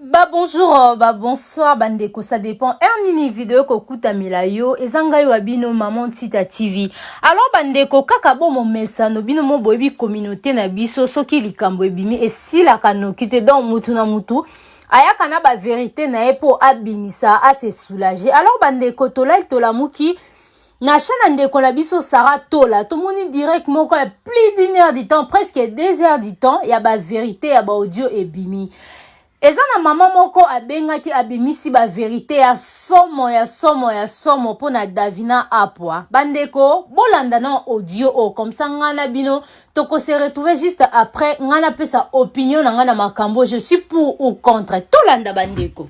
Ba bonjour, euh, ba bonsoir, ba ndeko, ça dépend. Er nini video kokuta mila yo, eza ngai wa bino maman Tita TV. Alors ba ndeko kaka bo momesa no bino mo boyebi communauté na biso soki likambo ebimi esila kanoki te donc mutu na mutu ayaka na ba verité na ye po abimisa, a se soulager. Alors ba ndeko tolai tolamuki Nasha na ndeko na biso Sarah Tola tomoni direct moko ya plus d'une heure du temps presque deux heures du temps ya ba verite ya ba audio ebimi eza na mama moko abengaki abimisi ba verite ya somo ya somo ya somo mpo na Davina Apwa bandeko bolanda na audio oyo oh, comme ça ngai na bino toko se retrouver juste après ngai napesa opinion na ngai na makambo je suis pour ou contre tolanda bandeko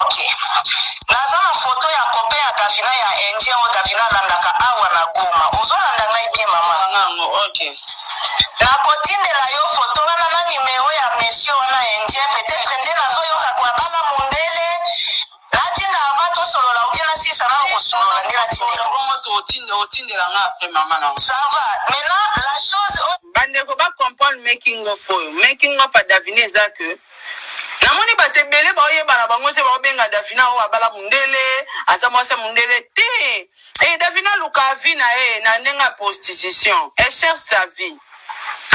Ok naza na photo ya copain ya davina ya indien oyo davina alandaka awa na goma ozo landa ngai bien maman Tanga yango, ok. nako tindela yo photo wana na numero ya monsieur wana ya indien peut etre nde nazo yoka ko abala mundele natinda avant tosolola ou bien nasilisa nanu kosolola nde natindela yo. Bongo to otinde otindela nga après maman na nga. Ça va maintenant la chose oyo Bandeko ba comprendre making of oyo. Making of ya Davina eza que namoni bato ebele baoyeba na bango te baobenga davina oyo abala mundele aza mwasi ya mundele te e davina aluka avi na ye na ndenge ya prostitution e cherche sa vie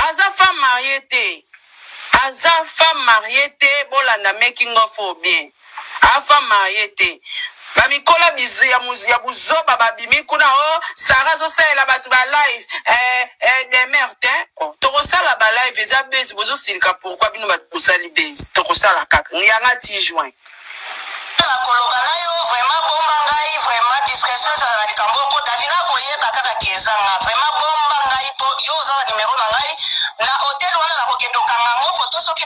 aza femme marie te aza femme marie te bolanda making of oyo bien A femme mariee te. Ba mikola bizu ya muzu ya buzoba ba bimi kuna oh Sarah azo salela batu ba live eh eh demeure tein oh toko sala ba live eza buzz bozo silika pourquoi bino batu bosali buzz toko sala kaka yanga ti juin Tika koloba nayo vraiment bomba ngai vraiment discretion ezala na likambo oyo po davina akoyeba kaka que eza nga vraiment bomba ngai po yo oza na numero na ngai na hotel wana nakokende okanga yango photo soki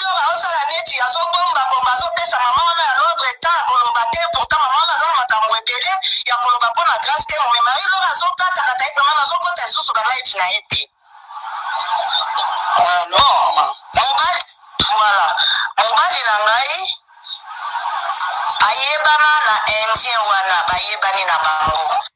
Docteur azosala neti azo bomba bomba azo pesa maman wana ya londre temps ya koloba te pourtant maman wana aza na makambu ebele ya koloba pona grace temo mais marie laure azo kata kata ye vraiment nazo kota lisusu ba live na ye te Ah non maman. mobali voilà mobali na ngai ayebana na indien wana bayebani na bango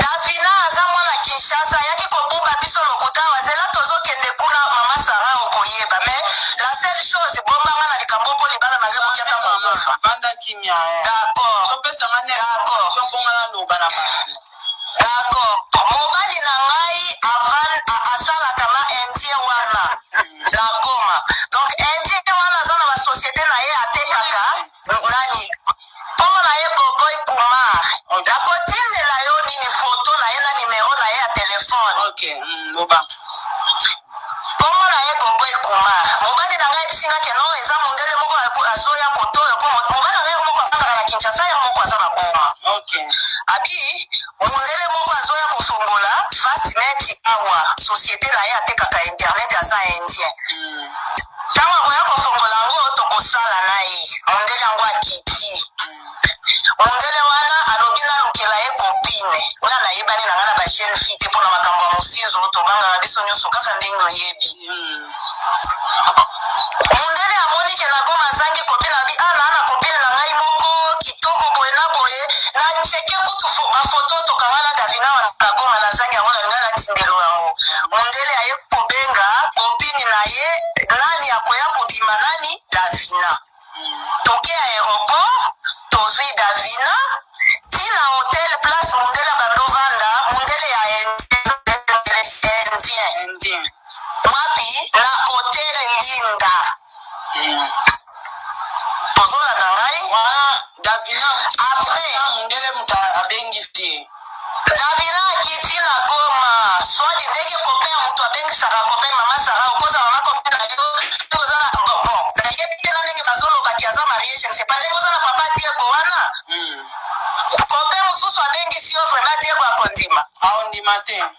Davina aza mwana Kinshasa ayaki ko buba biso lokuta awa zela tozo kende kuna maman Sarah oko yeba mais la seule chose bomba nga na likambo oyo po libala na nga ekoki ata ko kufa d'accord mobali na ngai avan asalaka na indien wana na goma donc indien wana aza na ba societe na ye atekaka nani Kombo na ye Gogoy Kumar. Nakotindela yo nini photo na ye na numero na ye ya telephone. Ok loba. Kombo na ye Gogoy Kumar. Mobali na ngai ayebisi ngai que non eza mundele moko azoya cote oyo po mobali na ngai ye moko afandaka na Kinshasa ye moko aza na Goma. Ok. Abi mundele moko azoya kofongola Fastnet awa societe na ye atekaka internet aza indien. Tango akoya kofongola yango tokosala na ye. Mondele yango akiti. Mondele wana alobi nalukela ye copine. Nga nayebani na nga na ba jeune fille te pona makambo ya mosinzo tobangaka biso nionso kaka ndenge oyebi. Mondele amoni ke na goma azangi copine alobi ah naa na copine na ngai moko kitoko boye na boye na checke kutu ba photo tokanga na davina wana na goma nazangi yango nalinga natindelo yango. Mondele aye. kobenga copine na ye nani akoya kobima nani davina toke aeroport tozwi davina tina hotel place mundele bando vanda mundele ya indien wapi na hotel linda Tozolanda ngai. Wana Davina apres mundele mutu abengisi ye. Davina akiti na goma swadi ndenge copain ya mutu abengisaka copain mama Sarah okoza mama copain na yo ndenge oza na bon bon nayebi te na ndenge bazoloba ki aza marie je ne sais pas ndenge oza na papa Diego wana copain mususu abengisi yo vraiment Diego akondima? Aondima te.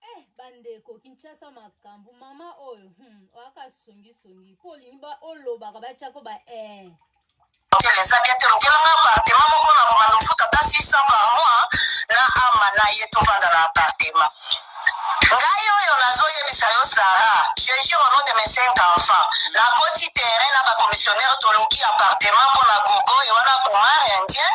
Eh, bandeko kinshasa makambo mama oyo hmm, oyaka songisongi mpo olingi ba olobaka batyako ba eh. eza bien te lokelanga apartema moko na komanda ofuta ata 600 par mois na ama na ye tovanda na apartema ngai oyo nazoyebisa yo sara je jure nom de mes cinq enfants nakoti terrain na bacommissionnaire toluki apartema mpo na gogo ye wana kumar indien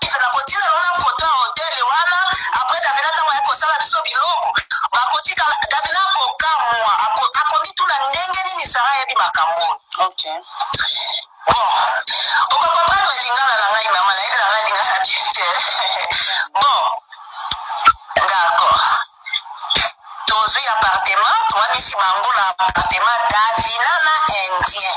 Biso nakotinda bango na foto ya hotel wana après davina ntango ayaki kosala biso biloko bakotika davina akokamwa ako- akomituna ndenge nini sara ayebi makambo oyo Ok. bon okokomprendre lingala na ngai mama nayebi na ngai lingala bien te bon d'accord tozwi appartement toyamisi bango na appartement davina na indien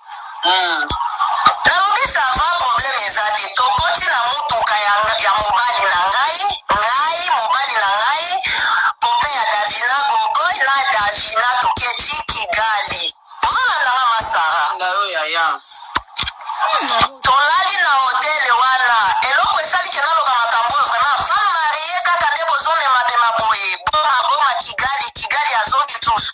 Nalobi ça va problème eza te tokoti na mutuka ya ya mobali na ngai ngai mobali na ngai copain ya Davina Gogoy na Davina toketi Kigali ozolanda nga ma Sarah Landa yo yaya. tolali na hotel wana eloko esali ke naloba makambo oyo vraiment femme marie kaka nde bozomema bema boye boma boma Kigali Kigali azongi lisusu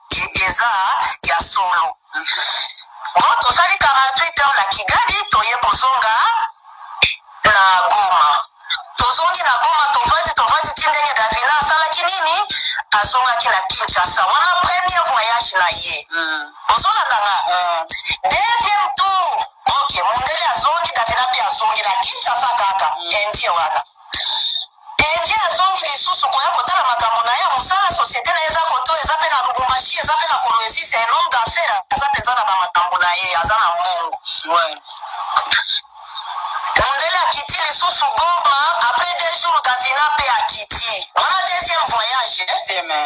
Eza ya solo bon tosali 48 heures na kigali toye kozonga na goma tozongi na goma tovandi tovandi ti ndenge davina asalaki nini azongaki na kinshasa wana premier voyage na ye ozolanda nga deuxième tour ok mundele azongi davina mpe azongi na kinshasa kaka indie wana Dengue azongi lisusu koya kotala makambo naye ya musala societe naye eza koto eza pe na lubumbashi eza pe na kolwezi c'est un homme d'affaires aza penza na ba makambo naye aza na mbongo Ouais. mundele akiti lisusu goma après deux jours davina pe akiti wana deuxième voyage eh? Deuxième, eh.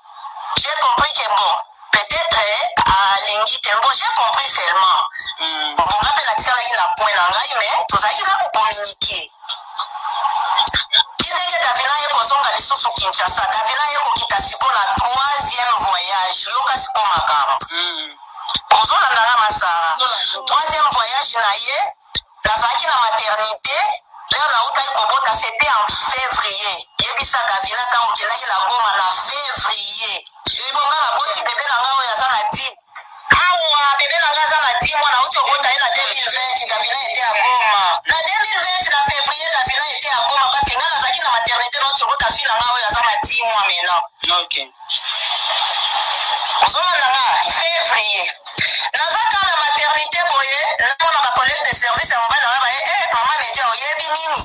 J'ai compris que bon peut etre alingi te bon j'ai compris seulement mm. bon nga mpe natikalaki na coin na ngai mais tozalaki kaka kocommuniquer kindenge davina ye kozonga lisusu kinshasa davina ye kokita siko na troisième voyage yoka siko makambo mm. ozolanda nga masara troisième voyage na ye Nazalaki na maternite l'heure nawutaki kobota c'etait en fevrier yebisa Davina tangu okendaki na Goma na fevrier ebongo nga naboti bebe na nga oyo aza na 10 awa bebe na nga aza na 10 mois nawuti kobota ye na 2020 Davina etait à Goma na 2020 na fevrier Davina etait à Goma parce que nga nazalaki na maternite nawuti kobota fille na nga oyo aza na 10 mois maintenant. Okay. Ozolanda nga fevrier naza ka na maternite boye namona ba collègue de service ya mobali na nga baye eh mama media oyebi nini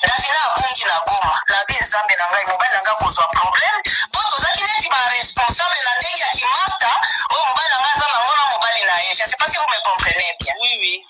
davina abungi na goma nabi nzambe na ngai mobali na nga akozwa problème po tozaki neti ba responsable na ndenge ya kimasta oyo mobali na nga aza na ngo na mobali na ye je sais pas si vous me comprenez bien Oui, oui.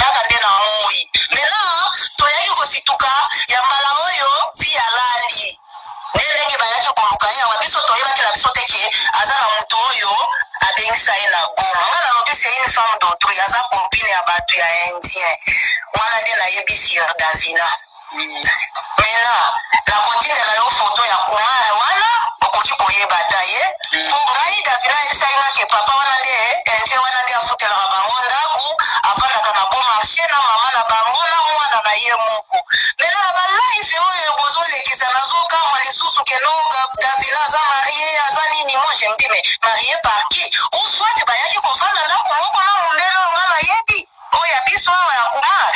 Kaka nde na moyi mais là toyaki kosituka ya mbala oyo fille alali nde ndenge bayaki koluka ye awa biso toyebaki na biso te ke aza na mutu oyo abengisa ye na goma nga nalobi c'est une femme d'autrui aza copine ya batu ya indien wana nde nayebi sur davina Maintenant nakotindela yo photo ya kumar wana okoki koyeba ata ye po ngai davina ayebisaki nga ke papa wana nde indien wana nde afutelaka bango ndaku afandaka na bon marche na maman na bango na mwana na ye moko maintenant na ba live oyo bozolekisa nazokamwa lisusu ke no davina aza marie aza nini moi je me dis mais marie par qui ou soit bayaki kofanda ndaku moko na mundele oyo nga nayebi Oyo ya biso awa ya kumar?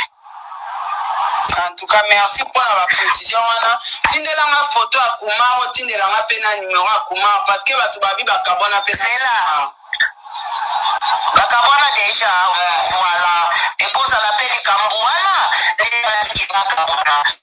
En tout cas merci pona ba precision wana tindela nga photo ya kumar otindela nga pe na numero ya kumar parce que batu babi bakabwana pe zela bakabwana deja voilà ekozala pe likambu wana nde nalaki bakabwana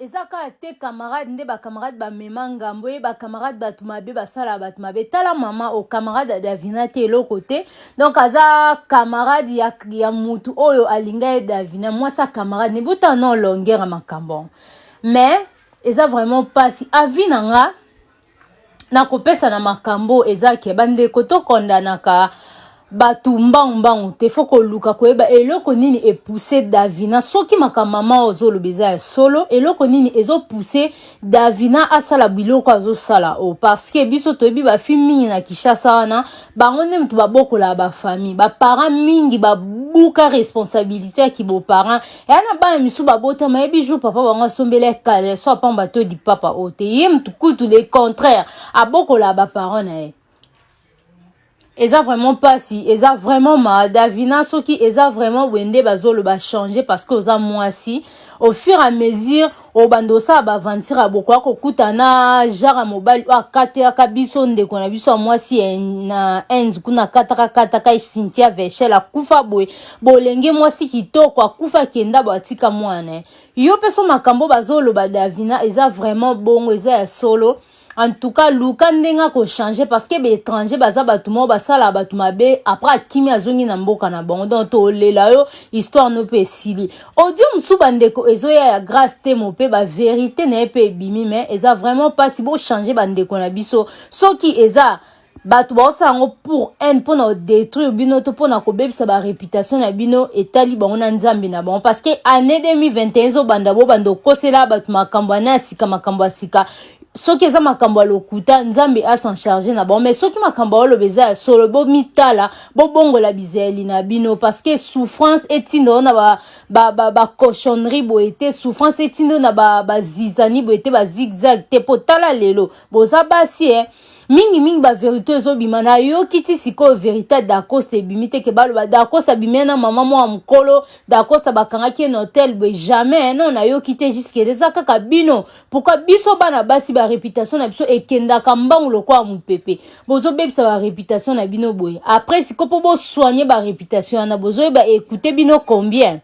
eza kaka te camarade nde bacamarade bamema ngambo ye bacamarade bato mabe basalaka bato mabe tala mama o camarade ya davina te eloko te donc aza camarade ya, ya motu oyo alinga ye davina mwasi ya camarade nebuta na olongera makambo mais eza vraiment mpasi avi na nga na kopesa na makambo eza ke bandeko tokondanaka bato mbangu mbangu te fo koluka koyeba eloko nini epuse davina soki makambo mama oyo ozoloba eza ya solo eloko nini ezopuse davina asala biloko azosala oyo parceke biso toyebi bafi mingi na kishasa wana bango nde moto babokolaka bafamille baparent mingi babuka responsabilité ya kiboparent eya na bana misusu babotama yebi jour papa bango asombela ye kaleso apamba to di papa oyo te ye mutu kutu le contraire abokola baparent na ye eza vraiment mpasi eza vraiment ma davina soki eza vraiment boye nde bazoloba change parce que oza mwasi au fur et à mesure obanda osala baaventure ya bokoya kokuta na genre ya mobali oyo akatekaka biso ndeko na biso ya mwasi eh, na inde kuna akataka kataka eh, cynthia vechel akufa boye bolenge mwasi kitoko akufa akenda bo atika mwana eh. yo mpe so makambo bazoloba davina eza vraiment bongo eza ya solo en tout cas luka ndenge akochange parce que baétranger baza bato moko basalaka bato mabe après akimi azongi na mboka na bango donc tolela yo histoire no mpe esili audio mosusu bandeko ezoya ya grace temo mpe baverité na ye mpe ebimi mais eza vraiment mpasi bochange bandeko na biso soki eza bato baosala yango pour haine mpo na odétruire bino to mpo na kobebisa bareputation na bino etali bango na nzambe na bango parce que année 2021 ezobanda bobanda okosela bato makambo ane ya sika makambo ya sika soki eza makambo ya lokuta nzambe asan charge na bango mais soki makambo aoloba eza ya solo bomitala bobongola bizaleli na bino parce que souffrance etinda yo na bacochonnerie ba, ba, ba boye te souffrance etinda yo na bazizani ba boye te bazigzag te mpo tala lelo boza basi eh? mingi mingi ba verite ezobima nayoki ti sikoyo verite ya dacosta ebimi te ke baloba dacosta abimia na mama mwa mokolo dacosta bakangaki ye na hotel boye jamais non nayoki te juskele eza kaka bino pourkui biso bana basi ba reputation na biso ekendaka mbangu lokola mopepe bozobebisa ba reputation na bino boye après sikoyo mpo bosoigne ba reputation wana bozoyeba ekoute bino combien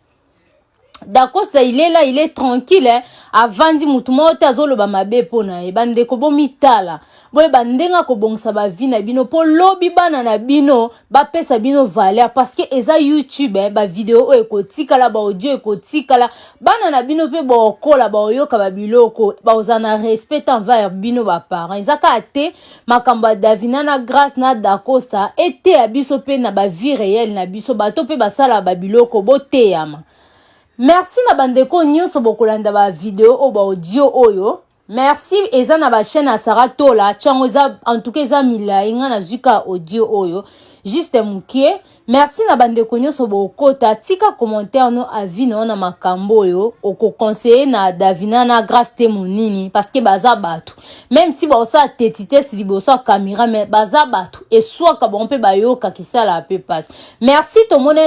dakosa il est là il est tranquille hein? avandi motu moko te azoloba mabe mpo na ye bandeko bomitala boyeba ndenge akobongisa bavi na bino mpo lobi bana na bino bapesa bino valeur parceke eza youtube eh, bavideo oyo ekotikala baaudio ekotikala bana na bino mpe baokola baoyoka babiloko baoza na respect envers bino baparent eza kaka te makambo ya davina na grace na dacosta eteya biso mpe na bavie réelle na biso bato mpe basalaka babiloko boteyama merci na bandeko nyonso bokolanda bavideo oyo baaudio oyo merci eza na bachaine ya sara tola tiango eza en tout cas eza milai ngai nazwi kaka audio oyo juste mokie Merci na bandeko nyonso bokota tika commentaire no avis na yo na makambo oyo okoconseille na davina na grace te monini parce que baza bato meme si baosala tetitesi liboso ya kamera mais baza bato eswaka bango mpe bayoka kisala ya mpe mpasi merci tomona